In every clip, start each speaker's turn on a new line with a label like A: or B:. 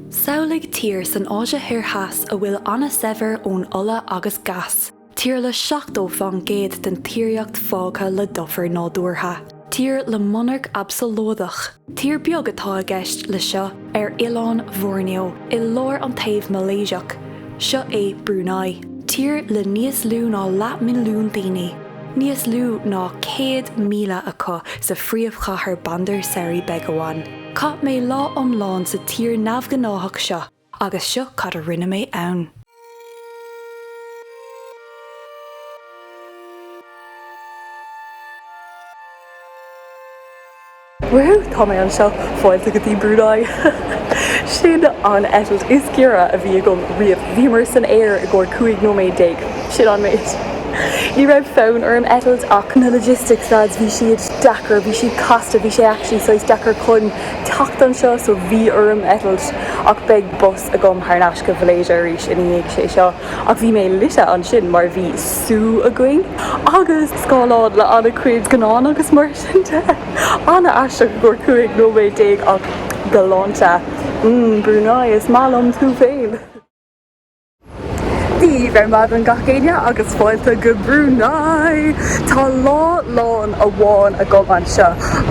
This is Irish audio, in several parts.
A: Samhlaigh tír san Áise Thoir Theas a bhfuil an-saibhir ón ola agus gás, tír le 70 faoin gcéad den tíríocht fágtha le dufair nádúrtha, tír le monarc absalóideach, tír beag atá i gceist le seo, ar oileán Bhoirneo i lár an taobh Malaeiseach, seo é Brunei, tír le níos lú ná leath milliún daoine, níos lú ná 100,000 acu sa phríomhchathair Bandar Seri Begawan. Chaith mé lá iomlán sa tír neamhghnáthach seo agus seo cad a rinne mé ann.
B: Woo-hoo! Tá mé anseo, fáilte go dtí Brunei! Sin an eitilt is giorra a bhí agam riamh. Bhíomar san aer i gcomhair 15 nóiméad. Sin an méid. Ní raibh fonn orm eitilt ach na logistics lads, bhí siad. deacair, bhí siad casta, bhí sé actually saghas deacair chun teacht anseo so bhí orm eitilt ach beidh bus agam thar n-ais go Malaeisia arís ina dhiaidh sé seo ach bhí mé lite ansin mar bhí sú againn agus scáileáin le an-chuid scannán agus mar sin de. An-aisteach i gcomhair 15 nóiméad ach galánta. Mm, Brunei, is maith liom tú féin! Dia daoibh ar maidin gach éinne agus fáilte go Brunei! Tá lá lán amháin agam anseo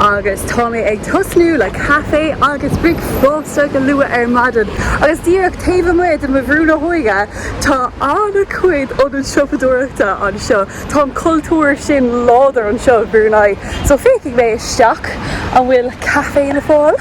B: agus tá mé ag tosnú le caifé agus bricfeasta go luath ar maidin agus díreach taobh amuigh de mo bhrú na hóige tá an-chuid ionad siopadóireachta anseo. Tá an cultúr sin láidir anseo i Brunei so féachfaidh mé isteach an bhfuil caifé le fáil.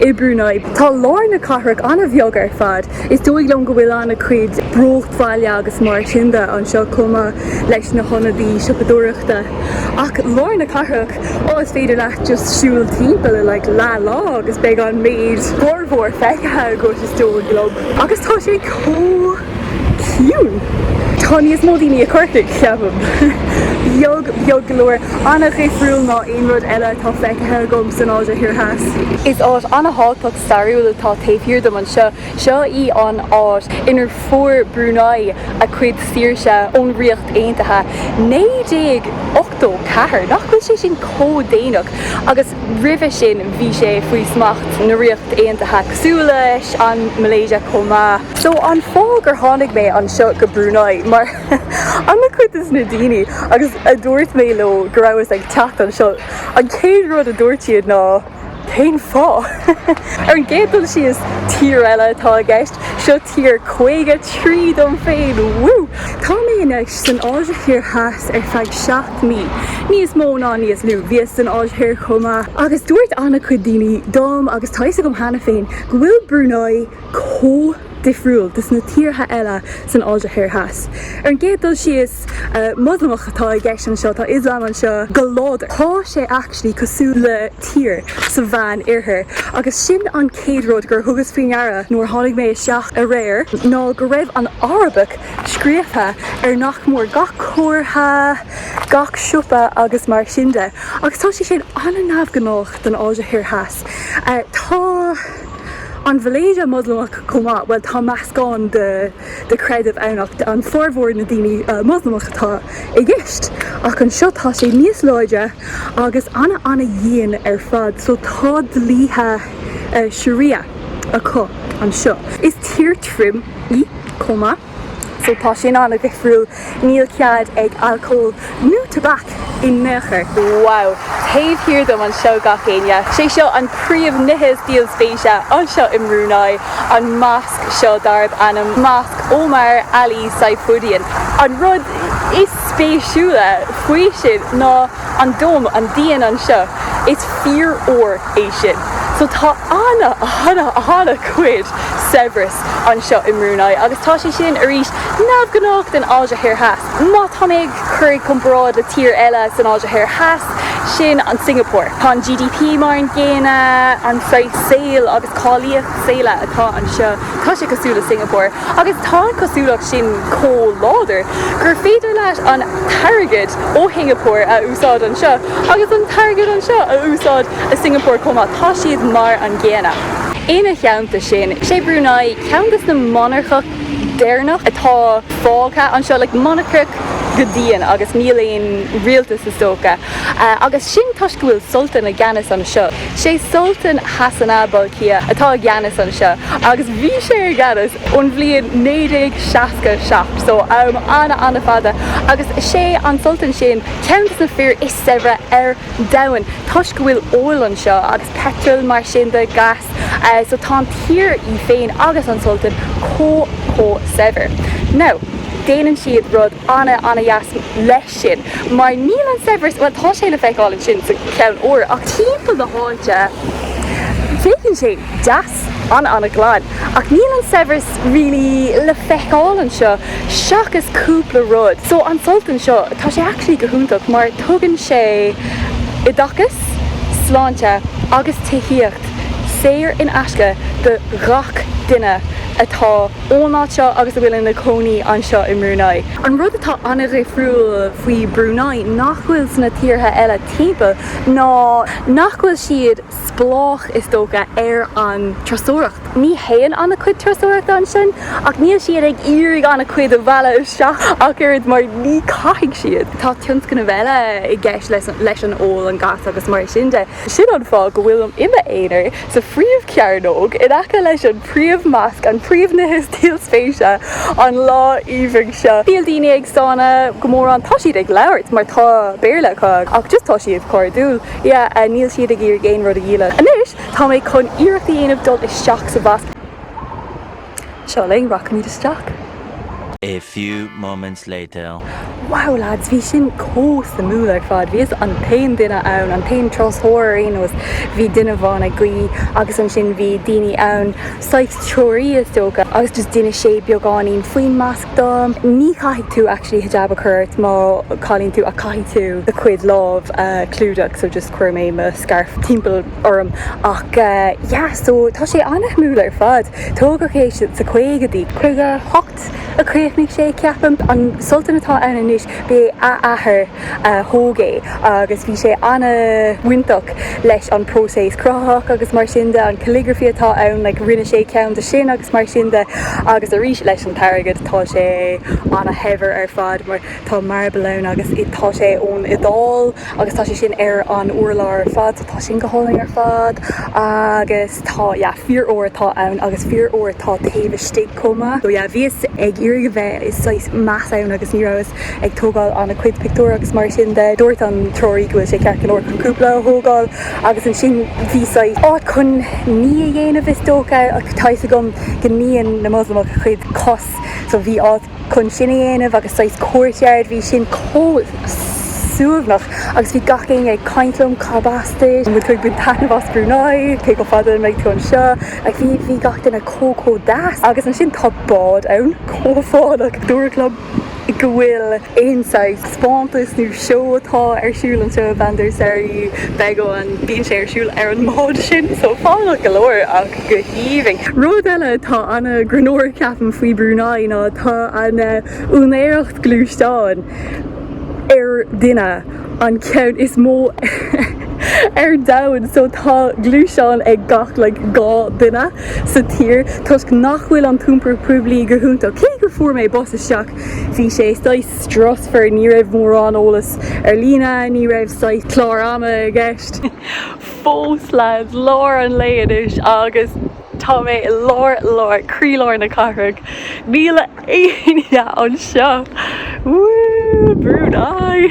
B: i Brunei. Tá lár na cathrach an-bheag ar fad. Is dóigh liom go bhfuil an-chuid bruachbhaile agus mar sin de anseo chomh maith leis na hionadaí siopadóireachta. Ach lár na cathrach, á is féidir leat just siúl timpeall i like leath lá agus beidh an méid, formhór feicthe agat is dóigh liom. Agus tá sé chomh. Ciúin! Tá níos mó daoine i Corcaigh, cheapaim. Beag beag go leor. An-dhifriúil ná aon rud eile atá feicthe agam san Áise Thoir Theas. Is áit an-thábhachtach stairiúil atá taobh thiar dom anseo. Seo í an áit inar fuair Brunei a cuid saoirse ón Ríocht Aontaithe. 1984! Nach bhfuil sé sin chomh déanach! Agus. roimhe sin bhí sé faoi smacht na Ríocht Aontaithe cosúil leis an Malaysia chomh maith. So an fáth gur tháinig mé anseo go Brunei mar ana-chuid des na daoine agus a dúirt mé leo go rabhas ag teacht anseo, an chéad rud a dúirt siad ná cén fáth? Ar an gcéad dul síos, tír eile atá i gceist, seo tír caoga trí dom féin, woo! Tá mé ar mo. san Áise Thoir Theas ar feadh seacht mí, níos mó ná níos lú. Bhíos san Áise Thoir chomh maith agus dúirt an-chuid daoine dom agus tá fhios agam cheana féin go bhfuil Brunei chomh difriúil dos na tíortha eile san Áise Thoir Theas. Ar an gcéad dul síos, Moslamach atá i gceist anseo, tá Ioslam anseo go láidir. Tá sé actually cosúil le tír sa Mheán Oirthear agus sin an chéad rud gur thugas faoi deara nuair a tháinig mé isteach aréir ná go raibh an Arabic scríofa ar nach mór gach comhartha, gach siopa agus mar sin de, agus tá sé sin an-neamhghnách don Áise Thoir Theas. Tá an Mhalaeisia Moslamach chomh maith, bhuel tá meascán de chreideamh ann ach an formhór na ndaoine Moslamach atá i gceist, ach anseo tá sé níos láidre agus an-an-dhian ar fad, so tá dlíthe Sharia acu anseo. Is tír thirim. í chomh maith. So tá sin an-dhifriúil. Níl cead ag alcól nó tobac in aon chor. Wow! Taobh thiar dom anseo gach éinne. Sé seo an príomhní is díol spéise anseo i mBrunei, an mosc seo darb ainm Mosc Omar Ali Saifuddin. An rud is spéisiúla faoi sin ná. an dome, an díon anseo, is fíor-ór é sin. So tá ana, ana, ana chuid saibhreas anseo i mBrunei agus tá sé sin, arís, neamhghnách don Áise Thoir Theas. Má tá mé ag cur i gcomparáid le tír eile san Áise Thoir Theas, sin é Singapore. Tá an GDP mar an gcéanna, an saghas saoil agus cáilíocht saoile atá anseo. Tá sé cosúil le Singapore agus tá an cosúlacht sin chomh láidir gur féidir leis an t-airgead ó Shingapore a úsáid anseo agus an t-airgead anseo a úsáid i Singapore chomh maith, tá siad mar an gcéanna. Ina theannta sin, is é Brunei ceann des na monarcacht deireanach atá fágtha anseo, like monarcacht go dian agus níl aon rialtas is dócha. Agus sin toisc go bhfuil Sultan i gceannas anseo. Sé Sultan Hassanal Bolkiah atá i gceannas anseo agus bhí sé i gceannas ón bhliain 1967, so am ana ana fada, agus sé an Sultan sin ceann des na fir is saibhre ar domhan toisc go bhfuil oil anseo agus peitreal mar sin de, gas, so tá an tír í féin agus an Sultan chomh chomh saibhir. Now, déanann siad rud ana ana dheas leis. sin, mar níl an saibhreas, bhuel, tá sé le feiceáil ansin sa cheann óir, ach timpeall na háite, féachann sé deas, an-an-ghlan, ach níl an saibhreas really le feiceáil anseo, seachas cúpla rud. So, an Sultan seo, tá sé actually go hiontach, mar tugann sé oideachas, sláinte agus tithíocht saor in aisce do ghach duine atá. ón áit seo agus a bhfuil ina cónaí anseo i mBrunei. An rud atá an-dhifriúil faoi Brunei nach bhfuil sna tíortha eile timpeall ná nach bhfuil siad spleách, is dócha, ar an turasóireacht. Ní théann an-chuid turasóireachta ansin ach níl siad ag iarraidh an-chuid a mhealladh isteach ach oiread mar ní chaithfidh siad. Tá tionscnaimh eile i gceist leis an ola, an gás agus mar sin de. Sin an fáth go bhfuilim i m'aonar. sa phríomhchearnóg in aice leis an bpríomh-mhosc, an príomhní is díol spéise an lá aoibhinn seo. Níl daoine ag stánadh go mór ann, tá siad ag labhairt mar tá Béarla acu ach just tá siad cairdiúil, yeah, níl siad ag iarraidh aon rud a dhíol. Anois tá mé chun iarracht a dhéanamh dul isteach sa mhosc. Seo linn, rachaimid isteach.
C: A few moments later. Wow
B: lads, bhí sin chomh suimiúil ar fad. Bhíos an t-aon duine ann, an t-aon turasóir ar aon nós, bhí duine amháin ag guí agus ansin bhí daoine ann, saghas treoraí is dócha, agus just d'inis sé beagáinín faoin mosc dom. Ní chaithfidh tú actually hijab a chur ort más cailín thú ach caithfidh tú do chuid lámh a chlúdach so just chuir mé mo scarf timpeall orm ach yeah so tá sé an-suimiúil ar fad. Tógadh é sna caogaidí. Caoga hocht a críochnaíodh sé ceapaim. An Sultan atá ann anois b'é a athair a thóg é agus bhí sé an-bhainteach leis an bpróiseas cruthaitheach agus mar sin de. An calligraphy atá ann like rinne sé ceann díobh sin agus mar sin de agus arís leis an t-airgead tá sé an-shaibhir ar fad mar. Tá marble ann agus tá sé ón Iodáil agus tá sé sin ar an urlár ar fad so tá sin go hálainn ar fad agus tá yeah fíor ór atá ann agus fíor ór atá taobh istigh chomh maith. So yeah bhíos ag iarraidh a bheith i saghas meas ann agus ní rabhas ag tógáil ana chuid pictiúr agus mar sin de dúirt an treoraí go bhfuil sé ceart go leor chun cúpla a thógáil agus ansin bhí saghas áit chun ní a dhéanamh is dócha ach tá fhios agam go níonn na Moslamaigh a gcuid cos so bhí áit chun sin a dhéanamh agus saghas courtyard, bhí sin chomh suaimhneach agus bhí gach éinne ag caint liom, cad as duit, an bhfuil tú ag baint taitneamh as Brunei, cé chomh fada a bheidh tú anseo, like bhí gach duine chomh chomh deas agus ansin tá bád ann chomh fánach, dúradh liom má bhíonn aon saghas taispeántas nó seó atá ar siúl anseo, i mBandar Seri Begawan, bíonn sé ar siúl ar an mbád sin, so fánach go leor ach. go haoibhinn. Rud eile atá ana ghreannmhar ceapaim faoi Brunei ná tá an úinéireacht gluaisteán per duine, an ceann is mó ar domhan so tá gluaisteán ag gach like dhá duine sa tír toisc nach bhfuil an t-iompar poiblí go hiontach. Cé gur fuair mé bus isteach bhí sé saghas strusmhar, ní raibh mórán eolas ar líne, ní raibh saghas clár ama i gceist. fós leads, lár an lae anois agus tá mé i lár, lár, croílár na cathrach. Níl éinne anseo! Woo! Brunei!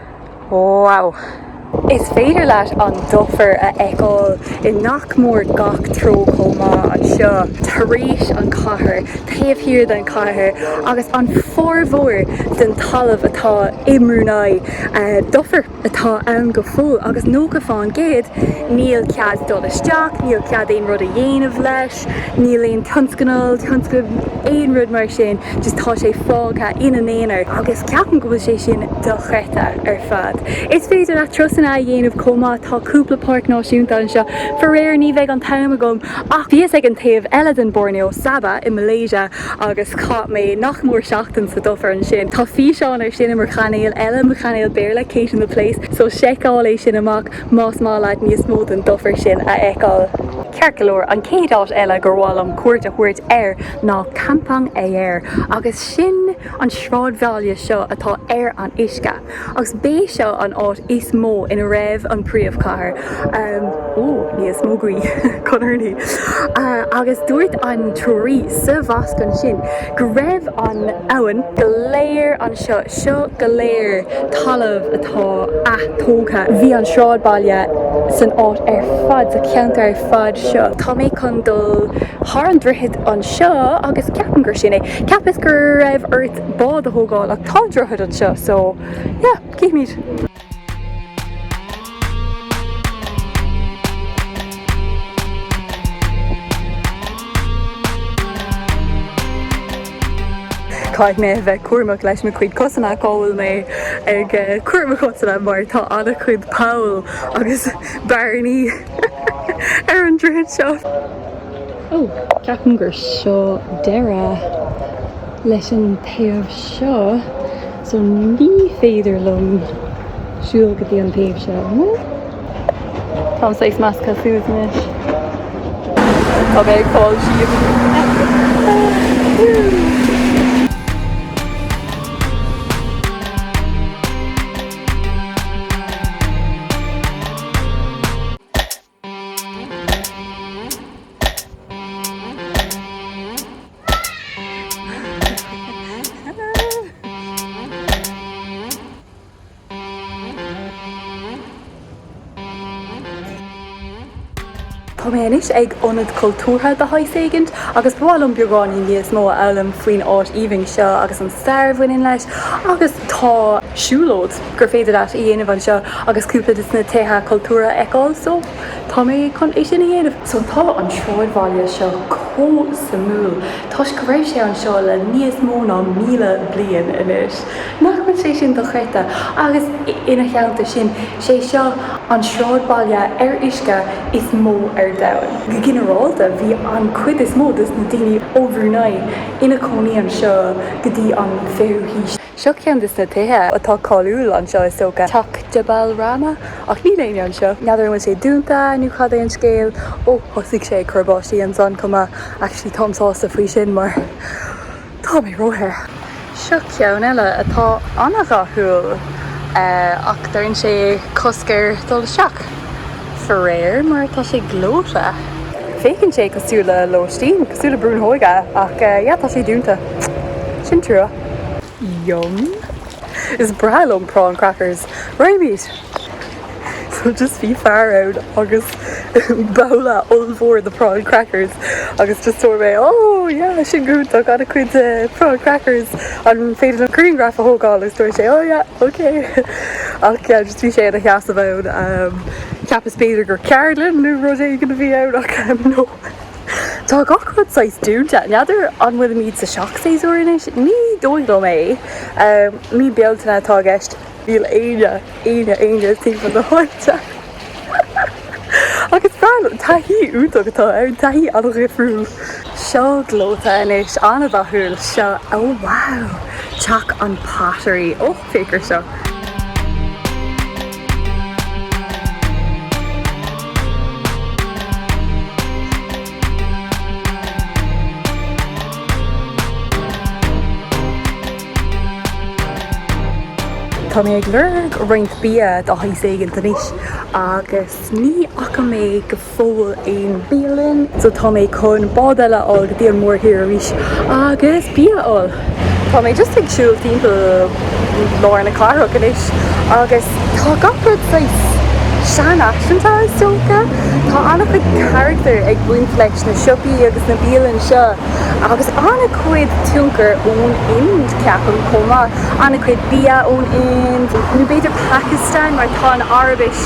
B: Wow! Is féidir leat an dufair a fheiceáil i nach mór gach treo chomh maith, anseo, tar éis an chathair, taobh thiar den chathair agus an formhór den talamh atá i mBrunei. Dufair atá ann go fóill agus 90 fán gcéad níl cead dul isteach, níl cead aon rud a dhéanamh leis. Níl aon tionscnal, tionscal, aon rud mar sin, just tá sé fágtha ina aonar agus ceapaim go bhfuil sé sin dochreidte ar fad. Is féidir leat turasanna a dhéanamh chomh maith, tá cúpla páirc náisiúnta anseo, faraor ní bheidh an t-am agam ach bhíos ag an taobh eile den Borneo, Sabah i Malaysia agus chaith mé nach mór seachtain sa dufair ansin. Tá físeán ar sin i mo chainéal eile, mo chainéal Béarla, Kate in the Place, so seiceáil é sin amach. Más maith leat níos mó den dufair sin a fheiceáil. Ceart go leor, an chéad áit eile gur mhaith liom cuairt a thabhairt air ná Kampong Ayer, agus sin an sráidbhaile seo atá ar an uisce, agus b'é seo an áit is mó ina raibh an príomhchathair, ó, níos mó guí, chun urnaí, agus dúirt an treoraí sa mhosc ansin go raibh an abhainn go léir an. seo go léir talamh atá atógtha. Bhí an sráidbhaile san áit ar fad, sa cheantar ar fad seo. Tá mé chun dul thar an droichead anseo agus ceapaim gur sin é. Cheapas gur raibh ort bád a thógáil ach tá droichead anseo so yeah, cífimid. Caithfidh mé a bheith cúramach le mo chuid cosanna cá bhfuil mé ag cur mo chosanna mar tá an-chuid poll agus bearnaí ar an droichead seo. Ó, ceapaim gur seo deireadh leis an taobh seo. So ní féidir liom siúl go dtí an taobh seo. Táim saghas measctha suas anois. Tá mé ag fáil síos. Tá mé anois ag ionad cultúrtha de shaghas éigint agus ba mhaith liom beagáinín níos mó a fhoghlaim faoin áit aoibhinn seo agus an stair a bhaineann leis agus tá siúlóid gur féidir leat a dhéanamh anseo agus cúpla des na tithe cultúrtha a fheiceáil. So, tá mé chun é sin a dhéanamh. So, tá an sráidbhaile seo chomh suimiúil toisc go raibh sé anseo le níos mó ná míle bliain anois. Nach bhfuil sé sin dochreidte? Agus ina theannta sin, sé seo an sráidbhaile ar uisce is mó ar domhan. Go ginearálta, bhí an chuid is mó des na daoine ó Bhrunei ina chónaí anseo go dtí an 20ú haois. Seo ceann des na tithe atá cáiliúil anseo is dócha, Teach Jabal Rahmah, ach níl éinne anseo. N'fheadar an bhfuil sé dúnta nó cad é an scéal. Ó, thosaigh sé ag cur báistí ansan chomh maith, actually táim sásta faoi sin mar tá mé róthe. Seo ceann eile atá an-dhathúil ach deireann sé cosc ar dhul isteach, faraor mar tá sé gleoite. Féachann sé cosúil le lóistín, cosúil le brú na hóige ach yeah tá sé dúnta. Sin trua. Yum. Is breá liom prawn crackers. Right. So just bhí fear ann agus babhla ollmhór de prawn crackers agus just dúirt mé ó yeah sin go hiontach an-chuid prawn crackers an féidir liom griangraf a thógáil agus dúirt sé ó yeah ok ach yeah just bhí sé ina sheasamh ann cheapas b'fhéidir gur ceardlann nó rud éigin a bhí ann ach no. Tá gach rud saghas dúnta. N'fheadar an bhfuilimid sa seachshéasúr anois? Ní dóigh liom é. Mí Bealtaine atá i gceist. Níl éinne, éinne, éinne timpeall na háite. Ach is breá liom. Taithí iontach atá ann, taithí an-dhifriúil. Seo gleoite anois, an-dhathúil. Seo, oh wow! Teach an Pottery. Oh! féach air seo. Tá mé ag lorg roinnt bia de shaghas éigint anois agus ní fhaca mé go fóill aon bialann so tá mé chun bád eile a fháil go dtí an mórthír arís agus bia a fháil. Tá mé just ag siúl timpeall lár na cathrach anois agus tá gach rud saghas seanfhaiseanta is dócha. Tá an-chuid carachtar ag baint leis na siopaí agus na bialann seo agus an-chuid tionchar ón Ind ceapaim chomh maith, an-chuid bia ón Ind nó b'fhéidir Pakistan mar tá an Araibis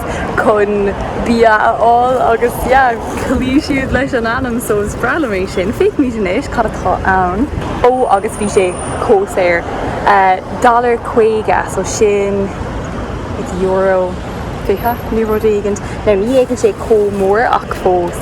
B: chun bia a fháil agus yeah chloígh siad leis an ainm so is breá liom é sin. Feicfimid anois cad atá ann. Ó agus bhí sé chomh saor. Dollar caoga so sin is euro fiche nó rud éigint. Now ní fhéachann sé chomh mór ach fós.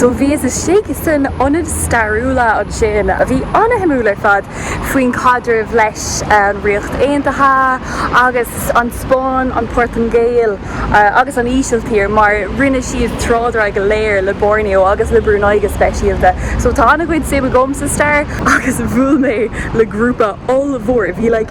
B: So bhíos istigh san ionad stairiúla ansin a bhí ana-shuimiúil ar fad faoin chaidreamh leis an Ríocht Aontaithe agus an Spáinn, an Portaingéil agus an Ísiltír mar rinne siad trádáil go léir le Borneo agus le Brunei go speisialta. So tá ana-chuid suim agam sa stair agus bhuail mé le grúpa ollmhór, bhí like,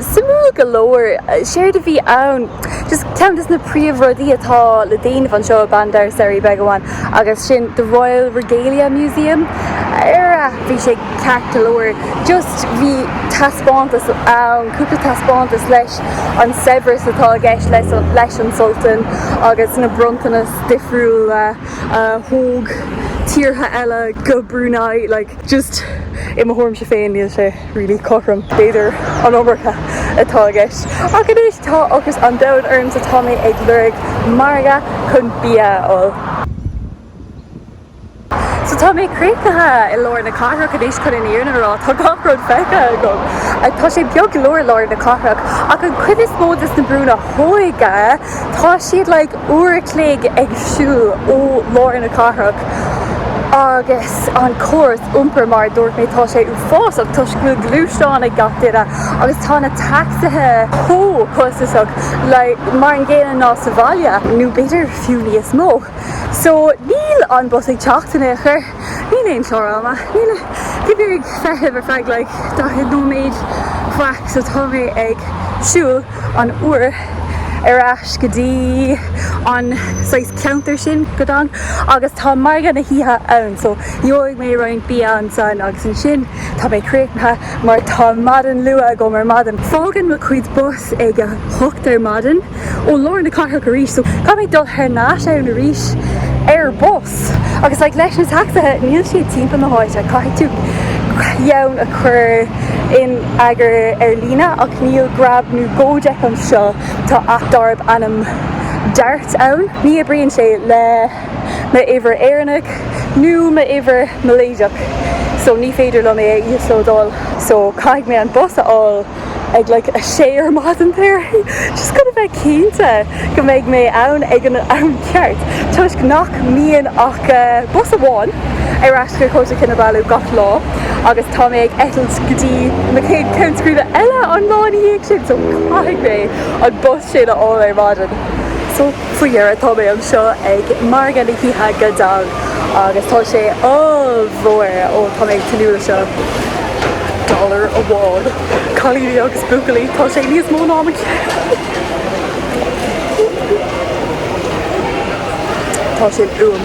B: suimiúil go leor séard a bhí ann. Just ceann de sna príomhrudaí atá le déanamh anseo i Bandar Seri Begawan agus sin The Royal Regalia Museum ar bhí sé ceart go leor. Just bhí taispeántas ann, cúpla taispeántas leis an saibhreas atá i gceist leis an Sultan agus na bronntanas difriúla a thug tíortha eile go Brunei, like. Just i mo thuairimse féin níl sé really cothrom b'fhéidir an iomarca atá i gceist ach anois tá ocras an domhain orm so tá mé ag lorg margadh chun bia a fháil. So tá mé críochnaithe i lár na cathrach anois chun an fhírinne a rá, tá gach rud feicthe agam. Tá sé beag go leor i lár na cathrach ach an chuid is mó de sna brúnna óige. Tá siad like uair a chloig ag siúl ó lár na cathrach agus an córas iompair, mar a dúirt mé, tá sé uafásach toisc go bhfuil gluaisteán ag gach duine agus tá na tacsaithe chomh costasach like mar an gcéanna ná sa bhaile, nó b'fhéidir fiú níos mó. So níl an bus ag teacht in aon chor. Níl aon chlár ama. Níl. Bhíos ag feitheamh ar feadh like daichead nóiméad faic so tá mé ag siúl an uair ar ais go dtí an saghas ceantar sin Gadong agus tá margadh na hoíche ann so gheobhaidh mé roinnt bia ansan agus ansin tá mé críochnaithe mar tá maidin luath agam ar maidin. Fágann mo chuid bus ag a hocht ar maidin. ó lár na cathrach arís so caithfidh mé dul thar n-ais ann arís ar bus agus like leis na tacsaithe níl siad timpeall na háite caithfidh tú ceann a chur in eagar ar líne ach níl Grab nó Gojek anseo tá aip darb ainm Dart ann ní oibríonn sé le m'uimhir Éireannach nó m'uimhir Malaeisiach so ní féidir liom é a íoslódáil so caithfidh mé an bus a fháil ag like a sé ar maidin there just chun a bheith cinnte go mbeidh mé ann ag an am ceart toisc nach mbíonn ach bus amháin ar ais go Kota Kinabalu gach lá agus tá mé ag eitilt go dtí an chéad country eile an lá ina dhiaidh sin so caithfidh mé an bus sin a fháil ar maidin so. Faoi dheireadh tá mé anseo ag Margadh na hOíche Gadong agus tá sé ollmhór! Ó tá mé ag tnúth le seo! Dollar amháin! Cailíní agus buachaillí, tá sé níos mó ná mo cheann! Tá sé uaim!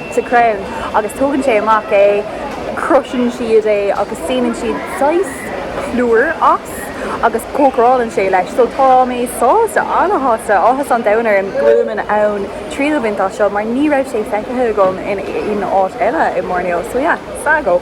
B: sa chrann agus tógann sé amach é, crushann siad é agus déanann siad saghas plúir as agus cócarálann sé leis. So tá mé sásta, an-shásta, áthas an domhain orm go bhfuilim in ann triail a bhaint as seo mar ní raibh sé feicthe agam in áit eile i mBoirneo. So yeah, sago.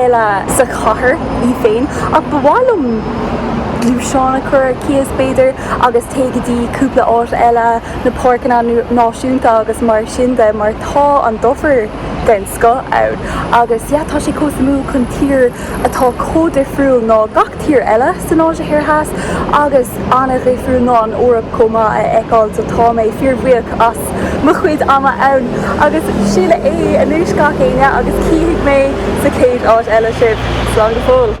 B: eile sa chathair í féin ach ba mhaith liom gluaisteán a chur ar cíos b'fhéidir agus téigh go dtí cúpla áit eile, na páirceanna náisiúnta agus mar sin de mar tá an dufair den scoth ann agus, yeah, tá sé chomh suimiúil chun tír atá chomh difriúil ná gach tír eile san Áise Thoir Theas agus an-dhifriúil ná an Eoraip chomh maith a fheiceáil so tá mé fíorbhuíoch as mo chuid ama ann agus sin é anois gach éinne agus cífidh mé sa chéad áit eile sibh. Slán go fóill.